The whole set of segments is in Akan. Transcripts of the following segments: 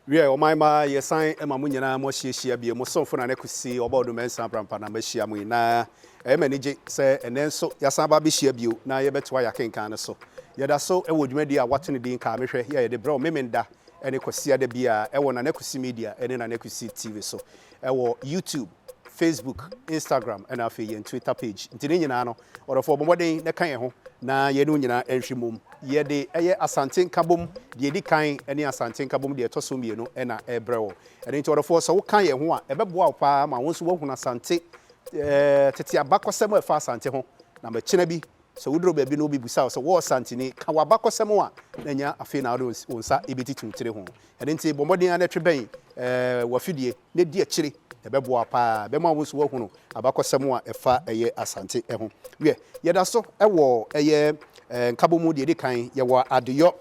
wiɛ ɔman ma yɛsan ma mo nyinaa mo ahyiahyia bie mo somfo na ne kwesi ɔbɔ ɔdoma nsa prampa na mahyia mo nyinaa ɛyɛ m'ani gye sɛ ɛnɛ nso yɛasan aba abɛhyia bio na yɛbɛtoa yɛakenkan no so yɛda so wɔ dwumadi a wɔato no din kaa mehwɛ yɛ yɛde brɛ wo memenda ne Kwasiada biara ɛwɔ Nana Kwesi Media ne Nana Kwesi TV so ɛwɔ YouTube, Facebook, Instagram ɛna afei yɛn Twitter page. Nti ne nyinaa no, ɔdɔfoɔ bɔ mmɔden na ka yɛn ho na yɛne wo nyinaa nhwe mmom. Yɛde ɛyɛ Asante Nkabom deɛ ɛdi kan ne Asante Nkabom deɛ ɛtɔ so mmienu na ɛrebrɛ wo. Ɛno nti ɔdɔfoɔ sɛ wo ka yɛn ho a, ɛbɛboa wo paa ma wo nso woahunu Asante tete abakɔsɛm a ɛfa Asante ho na makyina bi Sɛ woduru baabi na obi bisa wo sɛ, Wo Ɔsantini, ka w'abakɔsɛm a, na ɛnyɛ afei na wode wo nsa rebetiti wo tiri ho. Ɛno nti, bɔ mmɔden ara na twe bɛn w'afidie na di akyire. Ɛbɛboa wo paa. Ɛbɛma wo nso woahunu abakɔsɛm a ɛfa ɛyɛ Asante ho. Wiɛ, yɛda so wɔ ɛyɛ nkabom mu deɛ ɛdi kan. Yɛwɔ adeyɔ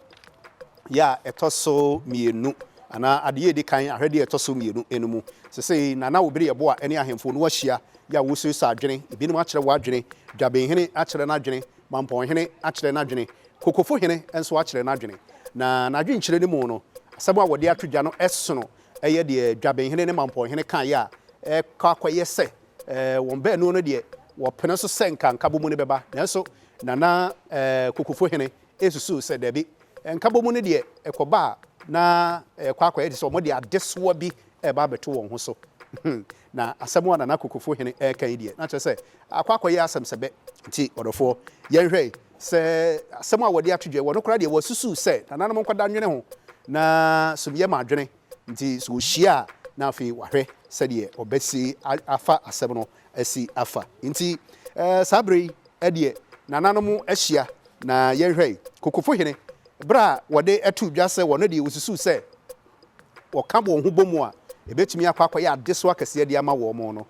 yɛ a ɛtɔ so mmienu anaa adeyɛ a ɛdi kan, ahwɛdeɛ a ɛtɔ so mmienu no mu. Sesei Nana Obiri yɛ boa ne ahemfo no ahyia yɛ a wɔresuasua adwene, ebinom akyerɛ wɔn adwene, Dwabenhene akyerɛ n'adwene, Mampɔnhene akyerɛ n'adwene, Kokofohene nso akyerɛ n'adwene. Na n'adwenkyerɛ no mu no, asɛm a wɔde ato dwa no sono yɛ deɛ Dwabenhene ne Mampɔnhene kaeɛ a ɛkɔ akɔyɛ sɛ wɔn baanu no deɛ wɔpene so sɛ nka nkabom no bɛba nanso Nana Kokofohene resusuw sɛ dabi, nkabɔmu no deɛ ɛkɔba a na ɛkɔ akɔyɛ te sɛ wɔde adesoa bi reba abɛto wɔn ho so. Na asɛm a Nana Kokofo Hene reka yi deɛ, na kyerɛ sɛ akɔ akɔyɛ asɛm sɛ bɛ. Nti ɔdɔfoɔ, yɛnhwɛ sɛ asɛm a wɔde ato dwa yi, wɔn koraa deɛ wɔasusuw sɛ nananom nkwadaa nnwene ho, na sum yɛ ma adwene Nti sɛ ɔhyia a, na afei wahwɛ sɛdeɛ ɔbɛsi afa asɛm no asi afa. Nti saa berɛ yi deɛ nananom ahyia na yɛnhwɛ Kokofohene berɛ a wɔde to dwa sɛ wɔn deɛ wɔsusu sɛ wɔka wɔn ho bom a ɛbɛtumi akɔ akɔyɛ adesoa kɛseɛ de ama wɔn no,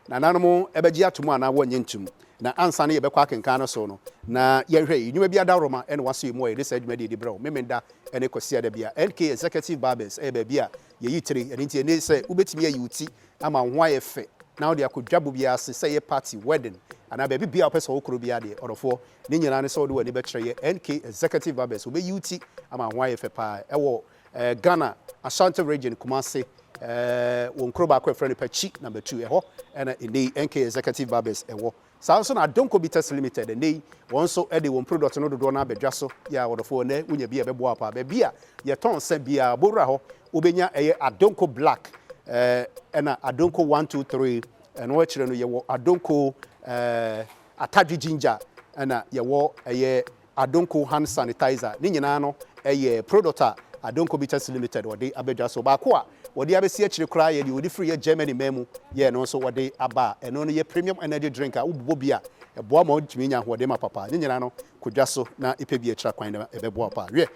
nananom bɛgye atom anaa wɔnnye ntom. Na ansa na yɛbɛkɔ akenkan no so no, na yɛnhwɛ yi, Nnwuma bi adaworoma na wɔasoɛ mu a yɛde saa dwumadie de brɛ wo, Memenda ne Kwasiada bi a NK Executive Barbers yɛ baabi a yɛyi tire, ɛno nti ɛne sɛ wobɛtumi ayi wo ti ama wo ho ayɛ fɛ na wode akɔ dwabɔ biara ase, sɛ ɛyɛ party, wedding anaa baabi biara a wopɛ sɛ wo koro biara deɛ ɔdɔfoɔ, ne nyinaa ne sɛ wode w'ani bɛkyerɛ yɛ NK Executive Barbers, wɔbɛyi wo ti ama wo ho ayɛ fɛ pa ara. Ɛwɔ eh, Ghana, Ashanti Region, Kumasi, eh, wɔn kuro baako a ɛfrɛ no Pakyi Number Two, ɛhɔ ɛna ɛnɛ yi NK Executive Barbers ɛwɔ. Saa ara nso na Adonko Bitters Limited, ɛnnɛ yi, wɔn nso de wɔn product no dodoɔ no ara aba dwa so. Yeah, wɔdɔfoɔ, ɛnnɛ wonya bi a ɛbɛboa wo paa. Baabi a yɛtɔn nsa biara, bɔwura hɔ, wobɛnya ɛyɛ Adonko Black, eh, ɛna Adonko One Two Three, ɛno akyire no yɛwɔ Adonko, eh, Atadwe Ginger, ɛna yɛwɔ ɛyɛ Adonko Hand Sanitizer, ne nyinaa no yɛ product a Adonko Bitters Limited wɔde aba dwa so. Baako a wɔde abɛsi akyire koraa yɛ deɛ wɔde firi yɛ Germany man mu yɛɛ no nso wɔde aba a ɛno no yɛ premium energy drink a wobobɔ bi a ɛboa ma wotumi nya ahoɔden ma papa. Ne nyinaa no kɔ dwa so na pɛ bi a ɛkyira kwan na ɛbɛboa wo paa. Wiɛ,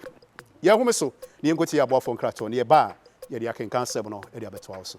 yɛn nhome so na yɛnkɔtie yɛn aboafoɔ nkratoɔ na yɛba a yɛde akenkan asɛm no de abɛtoa wo so.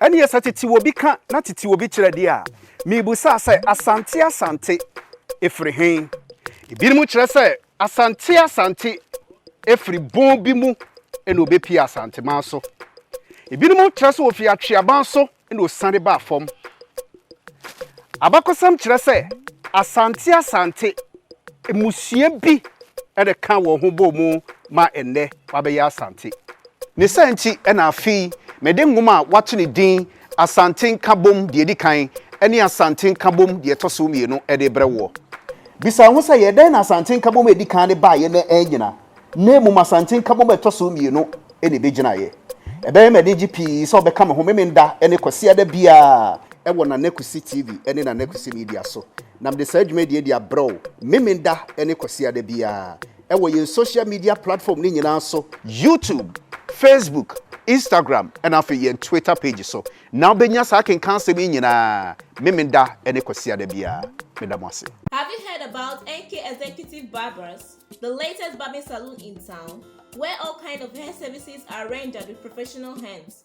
Ɛnneɛ sɛ tete obi ka na tete obi kyerɛ deɛ a, mebusaa sɛ, Asante Asante firi he? Ebinom kyerɛ sɛ, Asante Asante firi bon bi mu na ɔbɛpie Asanteman so. Ebinom kyerɛ sɛ ɔfiri Atweaban so na ɔsiane baa fam. Abakɔsɛm kyerɛ sɛ Asante Asante mmusua bi na ɛkaa wɔn ho bɔɔ mu ma nnɛ wɔabɛyɛ Asante. Ne saa nti na afei mede nwoma a wɔato no din Asante Nkabom Deɛ Ɛdi Kan ne Asante Nkabom Deɛ Ɛtɔ So Mmienu de rebrɛ woɔ. Bisa wo ho sɛ, 'Yɛ dɛn na Asante Nkabom a ɛdi kan no baeɛ na annyina, na mmom Asante Nkabom a ɛtɔ so mmienu na ɛbɛgyinaeɛ? Ɛbɛyɛ me anigye pii sɛ wobɛka me ho Memenda ne Kwasiada biara wɔ Nana Kwesi TV ne Nana Kwesi Media so, na mede saa dwumadie yi de abrɛ wo Memenda ne Kwasiada biara. wɔ yɛn social media platform no nyinaa so, YouTube, Facebook, Instagram ɛna afei yɛn Twitter page so na wobɛnya saa akenkan asɛm yi nyinaa Memenda ne Kwasiada biara. Meda mo ase. Have you heard about NK Executive Barbers, the latest barbing saloon in town, where all kind of hair services are rendered with professional hands?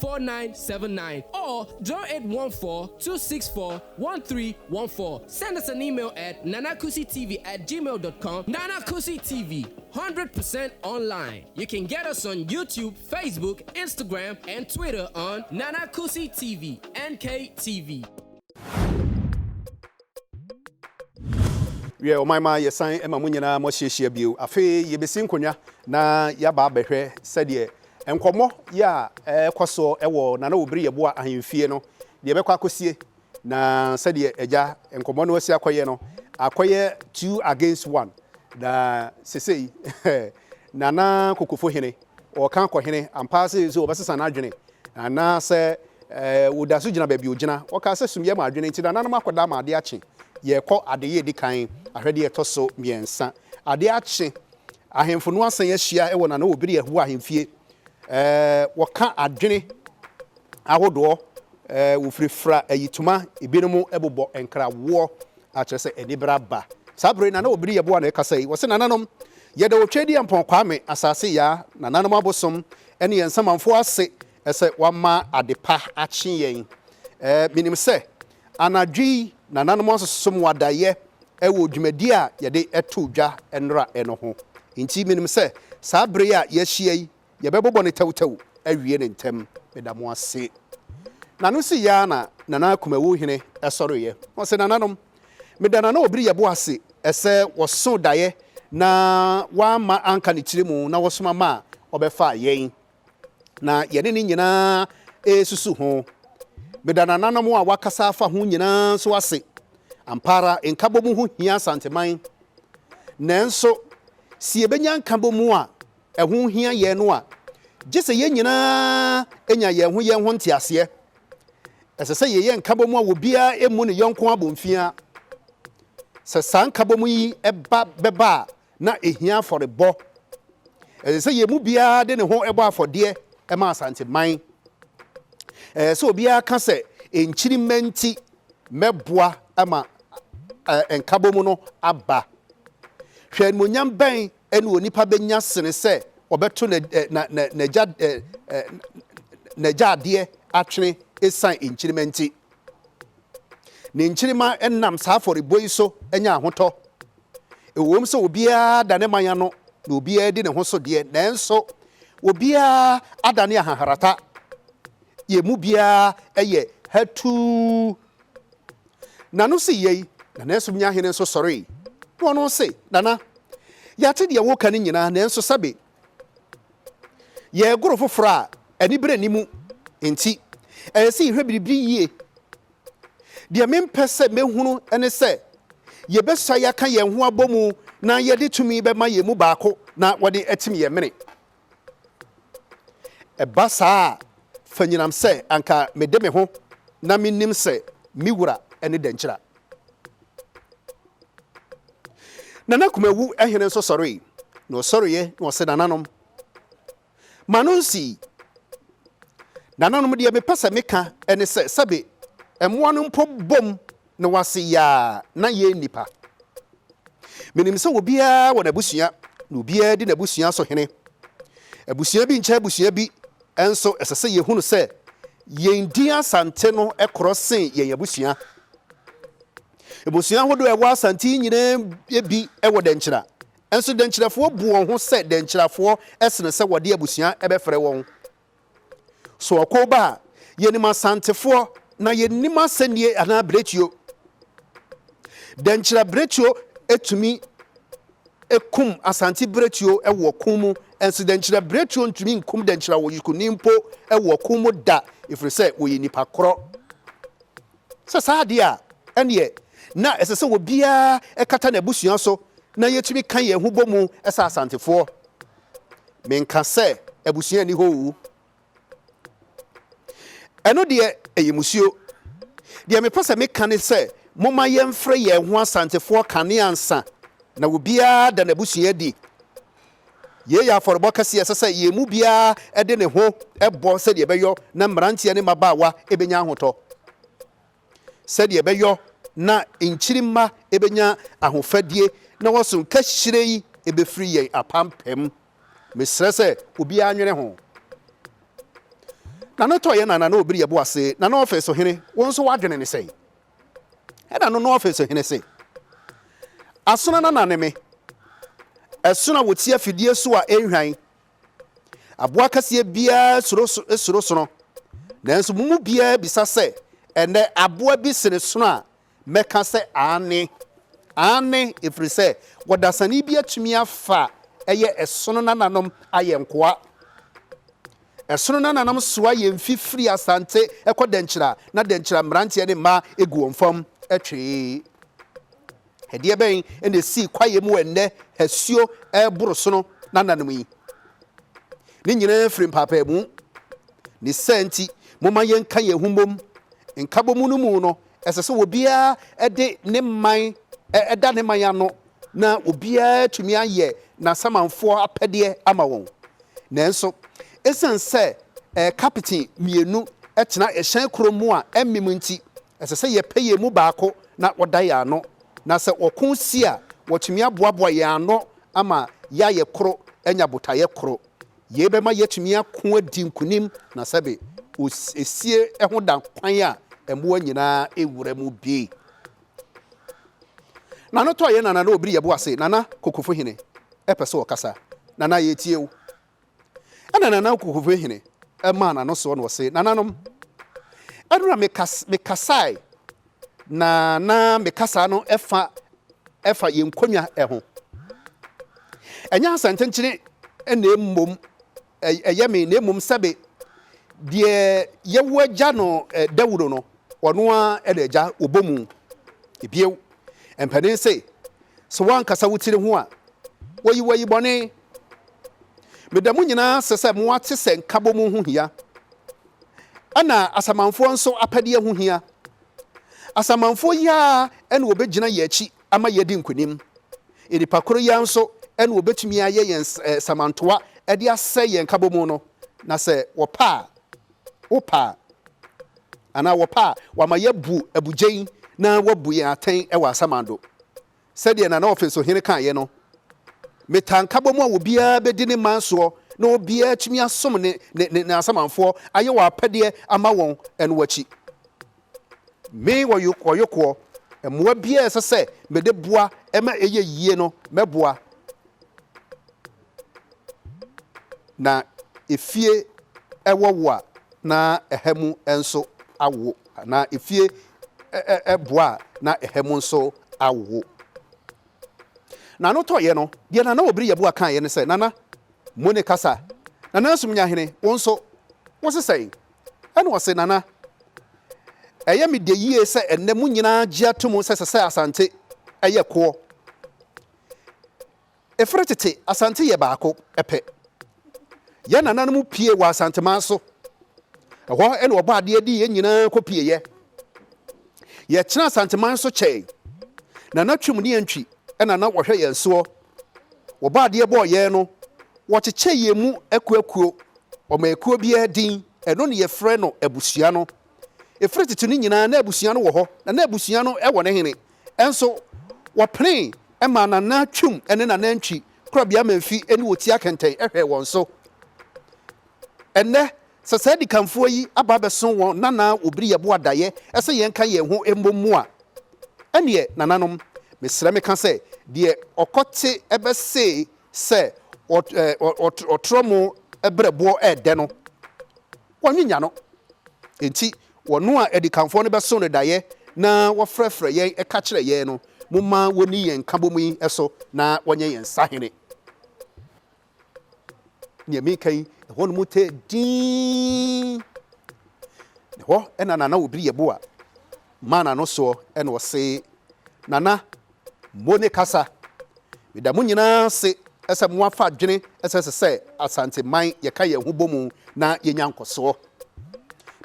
4979 or 0814-264-1314. Send us an email at nanakusitv at gmail.com. Nana Kusi TV, 100% online. You can get us on YouTube, Facebook, Instagram, and Twitter on Nana Kusi TV, NKTV. wiɛ ɔman ma yɛsan ma mo nyinaa moahyiahyia bio afei yɛbɛsi nkonnwa na yɛaba abɛhwɛ sɛdeɛ Nkɔmmɔ yi a ɛrekɔ so wɔ Nana Obiri Yeboah ahemfie no deɛ ɛbɛkɔ akɔsie, na sɛdeɛ agya nkɔmmɔ no asi akɔyɛ no, akɔyɛ two against one, na sesei Nana Kokofo Hene ɔreka akɔ hene ampa ara sɛ ɛsɛ sɛ wɔbɛsesa n'adwene anaa sɛ ɔda so gyina baabi a ɔgyina. Wɔkaa sɛ sumiiɛ ma adwene nti nananom akɔda ama adeɛ akye. Yɛrekɔ adeyɛ a ɛdi kan, ahwɛdeɛ a ɛtɔ so mmiɛnsa. Adeɛ akye Ahemfo no asan ahyia wɔ Nana Obiri Ahu ahemfie. Wɔka adwene ahodoɔ, wɔfirafira ayitoma, ebinom bobɔ nkrawoɔ a kyerɛ sɛ anibere aba. Saa bere Nana Obiri Yeboah na ɛkasa yi, ɔse, Nananom, yɛda Otwadi Ampɔn Kwame, Asase Yaa, Nananom Abosom ne yɛn Nsamanfoɔ ase sɛ wɔama adepa akye yɛn. Menim sɛ Anadwo yi nananom asosom wadayɛ wɔ dwumadi a yɛde too dwa nnora no ho. Enti minim sɛ saa bere yi a yɛahyia yi, yɛbɛbobɔ no tɛwtɛw awie no ntɛm. Meda mo ase. Na no sii ara na Nana Kumawu Hene sɔreeɛ. Ɔse, Nananom, meda Nana Obiriyɛbo ase sɛ wɔsoo daeɛ na wamma anka ne tiri mu na wɔsoma maa ɔbɛfaa yɛn. na yɛne ne nyinaa resusu ho. Meda nananom a wɔakasa afa ho nyinaa nso ase. Ampa ara, nkabom ho hia Asanteman. Nanso, sɛ yɛbɛnya nkabom a ɛho hia yɛn no a, gye sɛ yɛn nyinaa nya yɛn ho yɛn ho nteaseɛ. Ɛsɛ sɛ yɛyɛ nkabom a obiara mmu ne yɔnko abomfiaa. Sɛ saa nkabom yi ba bɛba a, na ehia afɔrebɔ. Ɛsɛ sɛ yɛn mu biara de ne ho bɔ afɔdeɛ ma Asanteman. Ɛsɛ sɛ obiara ka sɛ, Nkyirimma nti, mɛboa ma Nkabom no aba. Hwɛ animuonyam bɛn na onipa bɛnya sene sɛ ɔbɛto n'agya adeɛ atwene esiane nkyirimma nti! Ne nkyirimma nam saa afɔrebɔ yi so nya ahotɔ Ɛwom sɛ obiara da ne man ano na obiara di ne ho so deɛ, nanso obiara adane ahaharata. Yɛn mu biara yɛ hatuu. Nano sii yei, Nana Asumnyahene nso sɔree, na ɔno se, Nana, yɛate deɛ woreka no nyinaa, nanso sɛbe yɛregoro foforɔ a anibere nni mu nti, ɛyɛ sɛ yɛhwɛ biribi yie. Deɛ mempɛ sɛ mɛhunu ne sɛ yɛbɛsa yɛaka yɛn ho abɔ mu na yɛde tumi bɛma yɛn mu baako na wɔde atim yɛn mene. Ɛba saa a, fa nyinam sɛ anka mede me ho na menim sɛ me wura ne Dankyira. Nana Kumawu hene nso sɔree, na ɔsɔreeɛ na ɔse nananom, Ma no nsii. Nananom, deɛ mepɛ sɛ meka ne sɛ, sɛbe mmoa no mpo bom na wɔase yaa na yɛn nnipa. Menim sɛ obiara wɔ n'abusua, na obiara di n'abusua so hene. Abusua bi nkyɛ abusua bi, nso ɛsɛ sɛ yɛhunu sɛ yɛn din Asante no korɔ sen yɛn abusua. Abusua ahodoɔ a ɛwɔ Asante yi nyinaa bi wɔ Dɛnkyena, Nso dɛnkyerɛfoɔ bu wɔn ho sɛ dɛnkyerɛfoɔ sene sɛ wɔde abusua bɛfrɛ wɔn. So ɔko ba a, yɛnim Asantefoɔ na yɛnnim asɛnnie anaa biretuo. Dɛnkyerɛ biretuo tumi kum Asante biretuo wɔ ɔko mu, nso dɛnkyerɛ biretuo ntumi nkum dɛnkyerɛ awɔyekuni mpo wɔ ɔko mu da, ɛfiri sɛ wɔyɛ nnipa korɔ. Sɛ saa de a, ɛnneɛ na ɛsɛ sɛ obiara kata n'abusua so na yɛtumi ka yɛn ho bɔ mu sɛ Asantefoɔ. Menka sɛ abusua nni hɔ oo. Ɛno deɛ, ɛyɛ mmusuo. Deɛ mepɛ sɛ meka ne sɛ momma yɛmfrɛ yɛn ho Asantefoɔ kane ansa na obiara ada n'abusua adi. Yei yɛ afɔrebɔ kɛse a ɛsɛ sɛ yɛn mu biara de ne ho bɔ sɛdeɛ ɛbɛyɔ na mmeranteɛ ne mmabaawa bɛnya ahotɔ, sɛdeɛ ɛbɛyɔ na nkyirimma bɛnya ahofadie na wɔaso nkahyire yi bɛfiri yɛn apampam. Mesrɛ sɛ obiara nwene ho. Nana Ɔtɔeɛ Nana na Ɔbiri Yɛboase Nana Ɔfeso Hene, wo nso w'adwene ne sɛn? Ɛnna no na ɔfe so hene se, Asono na na ne me, ɛsono a wɔsi afidie so a ɛnhwan. Aboa kɛseɛ biara suro suro sono, nanso mo mu biara bisa sɛ, Ɛnnɛ, aboa bi sene sono a? Mɛka sɛ, Aane, aane, ɛfiri sɛ ɔdasani bi atumi afa ɛyɛ ɛsono nananom ayɛ nkoa. Ɛsono no ananom soa yɛn fi firi Asante kɔ Dɛnkyira na Dɛnkyira mmeranteɛ ne mmaa gu wɔn fam twee. Ɛdeɛ bɛn na ɛsii kwaeɛ mu wɔ ɛnnɛ asuo reboro sono no ananom yi? Ne nyinaa firi mpaapaamu. Ne saa nti, momma yɛnka yɛn ho mmom. Nkabɔmu no mu no, ɛsɛ sɛ obiara de ne man da ne man ano Ná obiara atumi ayɛ n'asamanfoɔ apɛdeɛ ama wɔn. Nanso, ɛsiane sɛ kapiten mmienu tena hyɛn koro mu a ɛmmem nti, ɛsɛ sɛ yɛpɛ yɛn mu baako na ɔda yɛn ano, na sɛ ɔko si a, watumi aboaboa yɛn ano ama yɛayɛ koro anya botaeɛ koro. Yei bɛma yɛatumi ako adi nkonim, na sɛbe esie ho da kwan a mmoa nyinaa wura mu bi. Nana tɔ yɛ na nana obiri yɛ bo ase nana kokofo hene pɛ sɛ ɔkasa nana yɛ tie wo ɛna nana kokofo hene maa nano soɔ na ɔse nananom ɛnora me kasae na na me kasaa no ɛfa ɛfa yɛ nkonwa ɛho ɛnyɛ asɛntenkyene ɛna mmom ɛyɛ me, na mmom sɛbe deɛ yɛn agya no Dawuro no, ɔno ara na agya wɔbɔ mu. Bio, mpanin se, Sɛ woankasa wo tiri ho a, wɔyi wo ayi bɔne. Meda mo nyinaa ase sɛ moate sɛ nkabɔmu ho hia, ɛna asamanfoɔ nso apɛdeɛ ho hia. Asamanfoɔ yi ara na wɔbɛgyina yɛn akyi. ama yɛadi nkonim. Nnipa koro yi ara nso na wɔbɛtumi ayɛ yɛn samantoa de asɛe yɛn nkabɔmu no, na sɛ wɔpɛ a, wopɛ a, anaa wɔpɛ a, wɔama yɛabu abugyen na wɔabu yɛn atɛn wɔ asamando. Sɛdeɛ Nana Ɔfensohene kaeɛ no, Metaa nkabɔmu a obiara bɛdi ne man soɔ na obiara atumi asom ne ne ne asamanfoɔ ayɛ wɔn apɛdeɛ ama wɔn no akyi. Me wɔ Yokoɔyokoɔ, mmoa biara a ɛsɛ sɛ mede boa ma ɛyɛ yie no, mɛboa. Na efie wɔ wo a, na ɛha mu nso awo, anaa efie boa a, na ɛha mu nso awo. Na ano tɔeɛ no, deɛ Nana Obiri Yeboah kaeɛ ne sɛ, Nana, mo ne kasa. Nana Asumnyahene, wo nso, wo se sɛn? Ɛnna ɔse, Nana, ɛyɛ me dɛ yie sɛ ɛnnɛ mo nyinaa gye atom sɛ ɛsɛ sɛ Asante yɛ koɔ. Ɛfiri tete, Asante yɛ baako pɛ. Yɛn nananom pue wɔ Asanteman so. Ɛhɔ na wɔbɔ adeɛ de yɛn nyinaa kɔpueeɛ. Yɛtena Asanteman so kyɛe. Nana Twum ne Antwi na na wɔhwɛ yɛn soɔ Wɔbɔɔ adeɛ bɔɔ yɛn no, wɔkyekyɛɛ yɛn mu akuakuo, wɔmaa ekuo biara din, ɛno na yɛfrɛ no abusua no. Ɛfiri tete no nyinaa na abusua no wɔ hɔ, na na abusua no wɔ ne hene nso. Wɔpenee maa n'anantwim ne n'anantwi korabea ma mfi ne otia kɛntɛn hwɛɛ wɔn so. Ɛnnɛ, sɛ saa adikanfoɔ yi aba abɛso wɔn nana wɔbiri yɛbo adaeɛ sɛ yɛnka yɛn ho mmɔ mu a, ɛnneɛ, nananom, mesrɛ meka sɛ, deɛ ɔkɔte bɛse sɛ ɔtorɔ mo berɛboɔ ɛɛdɛ no, wɔnwenya no. Enti, wɔn a adikanfoɔ no bɛso no daeɛ na wɔfrɛfrɛ yɛn ka kyerɛ yɛn no, momma wɔnni yɛn nkabom yi so na wɔnyɛ yɛn sahene. Nea meka yi, ɛhɔnom tɛɛ dinn. Na ɛhɔ na Nana Obiri Yeboah maa n'ano soɔ na ɔse, Nana, mo ne kasa. Meda mo nyinaa ase sɛ moafa adwene sɛ ɛsɛ sɛ Asanteman yɛka yɛn ho bɔ mu na yɛnya nkɔsoɔ.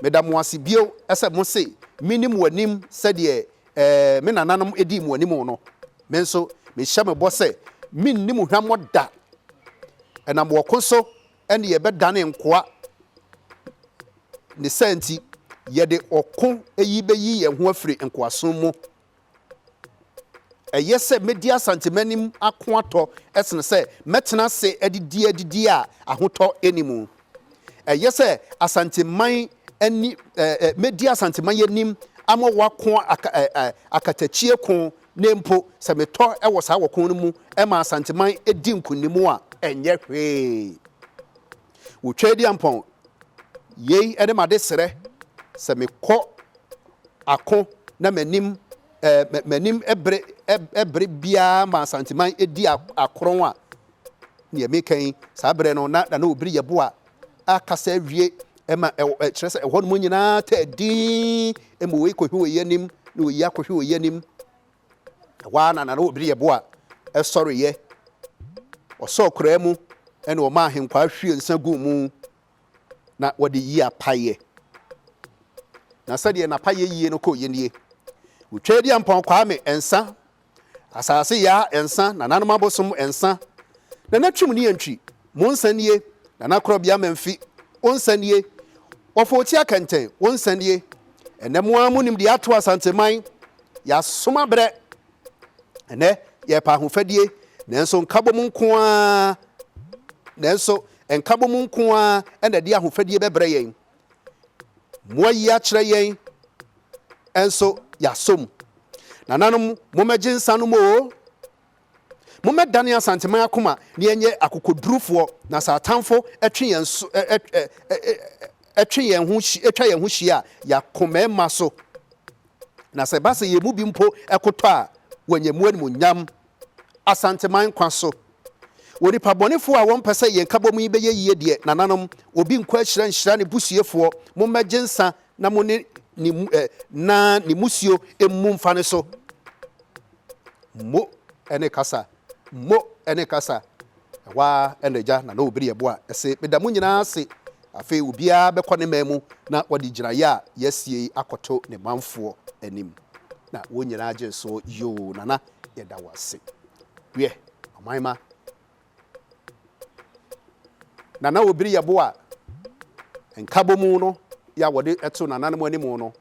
Meda mo ase bio sɛ mose menim wɔ anim sɛdeɛ Ɛɛ, me nananom dii mo anim no, me nso mehyɛ mo bɔ sɛ merenni mo hwammɔ da. Ɛnam ɔko so ne yɛbɛdane nkoa. Ne saa nti, yɛde ɔko yi bɛyi yɛn ho afiri nkoasom mu. Ɛyɛ sɛ mɛdi Asantemannim ako atɔ sene sɛ mɛtena ase adidi adidie a ahotɔ nni mu. Ɛyɛ sɛ Asanteman ani ɛ mɛdi Asanteman anim ama wɔako aka ɛ ɛ akatakyie ko na mpo sɛ metɔ wɔ saa ɔko no mu ma Asanteman di nkonim a, ɛnyɛ hwee. Wɔtwa adi ampɔn. Yei ne m'adesrɛ, sɛ mekɔ ako na m'anim ɛ m'anim bere ɛ bere biara ma Asanteman di akorɔn a, Nea meka yi, saa berɛ no, na Nana Obiri yɛ boa a kasa awie ma ɛwɔ ɛ, kyerɛ sɛ ɛhɔnom nyinaa tɛɛ dinn ma wei kɔhwe wei anim na wei akɔhwe wei anim. Ɛhɔ ara na Nana Obiri yɛ boa sɔreeɛ. Ɔsɔɔ koraa mu na ɔmaa Ahenkwaa hwiee nsa guu mu na wɔde yii apaeɛ. Na sɛdeɛ n'apaeɛ yie no kɔeɛ nie. Otwaa Adiampɔn Kwame nsa Asase ya nsa na nanom abosom nsa na natwim ne antwi mo nsa nie na nakorɔbea mamfi wo nsa nie wɔfo ɔti akɛntɛn wo nsa nie ɛnɛ mo ara monim deɛ ato asanteman yɛasom abrɛ ɛnɛ yɛpa ahofadie nanso nkabom nko ara nanso nkabom nko ara ɛna de ahofadie bɛbrɛ yɛn Moayi akyerɛ yɛn nso yɛasɔ mu. Nananom, mommɛgye nsa nom oo. Mommɛdane Asanteman akoma na yɛnyɛ akokodurufoɔ na sɛ atamfo twe yɛn so, twe yɛn ho, twa yɛn ho hyia a, yɛako mmarima so. Na sɛ ɛba sɛ yɛn mu bi mpo kotɔ a, wɔanya mu animuonyam Asanteman kwa so. Wɔ nipa bɔnefoɔ a wɔmpɛ sɛ yɛn nkabɔmu yi bɛyɛ yie deɛ, nananom, obi nkɔ ahyira nhyira ne busuefoɔ, mo mmɛgye nsa na mo ne ne mu ɛ, na ne musuo mmu mfa ne so. Mo ɛne kasa. Mo ɛne kasa. Ɛhɔ ara ɛna agya Nana Obiri yɛ boa ɛse, meda mo nyinaa ase. Afei obiara bɛkɔ ne man mu na wɔde gyinaeɛ a yɛasie yi akɔto ne manfoɔ anim. Na wɔn nyinaa gyee soɔ, yoo, Nana. Yɛda wo ase. Wiɛ, ɔman ma. Nana Obiri yɛ bo a nkabɔmu no yɛ a wɔde to nananom anim no.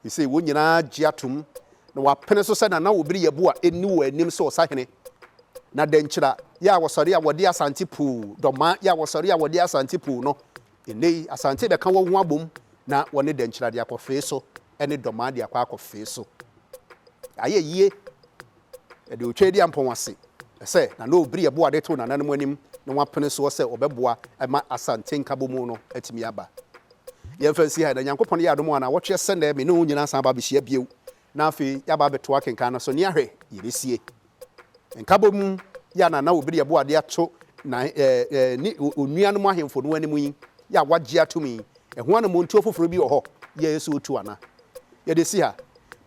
Ese wɔn nyinaa gye atom na wɔapene so sɛ Nana Obiri yɛ bo a enni wɔn anim sɛ ɔsahene. Na Dankyira yɛ a wɔsɔre a wɔde Asante Puu, Dɔmaa yɛ a wɔsɔre a wɔde Asante Puu no Nnɛyi Asante bɛka wɔn ho abom na wɔne Dankyira de akɔ Fee so ne Dɔmaa de akɔ akɔ Fee so. Yɛayɛ yie. Yɛde Otwei de ampɔn ase sɛ Nana Obiri ɛboɔ a de too nananom anim na wɔapene soɔ sɛ wɔbɛboa ma Asante Nkabomu no atumi aba. Yɛmfa nsi ha yi, na Nyankopɔn yɛ adom a, naawɔtwe sɛ nnɛ me ne wo nyinaa san aba abɛhyia bio na afei yɛaba abɛtoa akenkan no so ne ahwɛ yɛbɛsie nkabɔ mu yi a Nana Obiri Aboa de ato na ne onuanom ahemfo no anim yi yɛ a wagye atom yi, ɛho anammɔntuo foforɔ bi wɔ hɔ yɛ yɛ sɛ ɔtu ana? Yɛde si ha.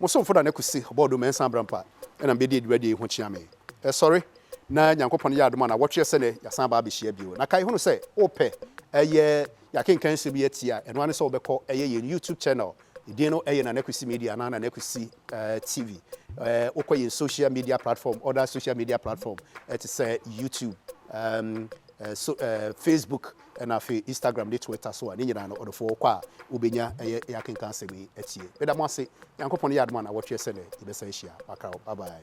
Mo somfo Nana Kwesi Ɔbɔɔdo Mensah Abrampa na mebɛdi adwumadie yi ho kyea me. Sɔre na Nyankopɔn yɛ adom a nnawɔtweɛ sɛ nnɛ yɛasan aba abɛhyia bio. Na kae hunu sɛ wopɛ ɛyɛ yɛakenkan nsɛm yi atie a, ɛno ara ne sɛ wobɛkɔ ɛyɛ yɛn YouTube channel Edin no yɛ Nana Kwesi Media anaa Nana Kwesi TV. Wokɔ yɛn social media platform, other social media platform te sɛ YouTube, Facebook, ɛna afei Instagram ne Twitter so a, ne nyinaa no ɔdɔfoɔ wokɔ a wobɛnya ɛyɛ yɛakenka asɛm yi atie. Meda mo ase. Nyankopɔn yɛ adom a na wɔtweɛ sɛ nɛ yɛbɛsan ahyia. Makra wo. Bye bye.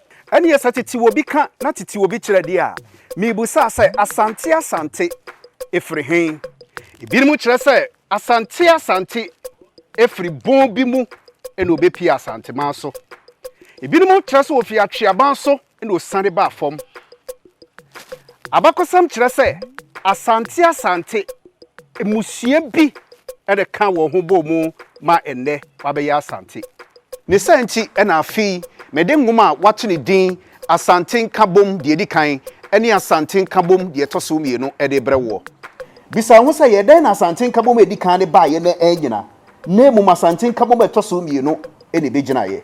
Ɛnneɛ sɛ tete obi ka na tete obi kyerɛ deɛ a, mebusaa sɛ, Asante Asante firi he? Ebinom kyerɛ sɛ, Asante Asante firi bon bi mu na ɔbɛpie Asanteman so. Ebinom kyerɛ sɛ ɔfiri Atweaban so na ɔsiane baa fam. Abakɔsɛm kyerɛ sɛ Asante Asante mmusua bi na ɛkaa wɔn ho bɔɔ mu ma nnɛ wɔabɛyɛ Asante. Ne saa nti na afei mede nwoma a wɔato no din Asante Nkabom Deɛ Ɛdi Kan ne Asante Nkabom Deɛ Ɛtɔ So Mmienu de rebrɛ woɔ. Bisa wo ho sɛ, 'Yɛ dɛn na Asante Nkabom a ɛdi kan no baeɛ na annyina, na mmom Asante Nkabom a ɛtɔ so mmienu na ɛbɛgyinaeɛ?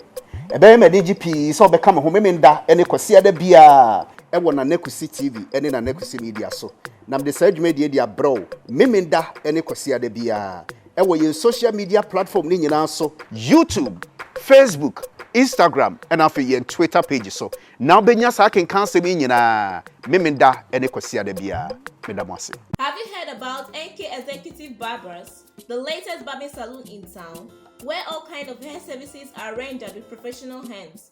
Ɛbɛyɛ me anigye pii sɛ wobɛka me ho Memenda ne Kwasiada biara wɔ Nana Kwesi TV ne Nana Kwesi Media so, na mede saa dwumadie yi de abrɛ wo Memenda ne Kwasiada biara. wɔ yɛn social media platform no nyinaa so, YouTube, Facebook, Instagram ɛna afei yɛn Twitter page so na wobɛnya saa akenkan asɛm yi nyinaa Memenda ne Kwasiada biara. Meda mo ase. Have you heard about NK Executive Barbers, the latest barbing saloon in town, where all kind of hair services are rendered with professional hands.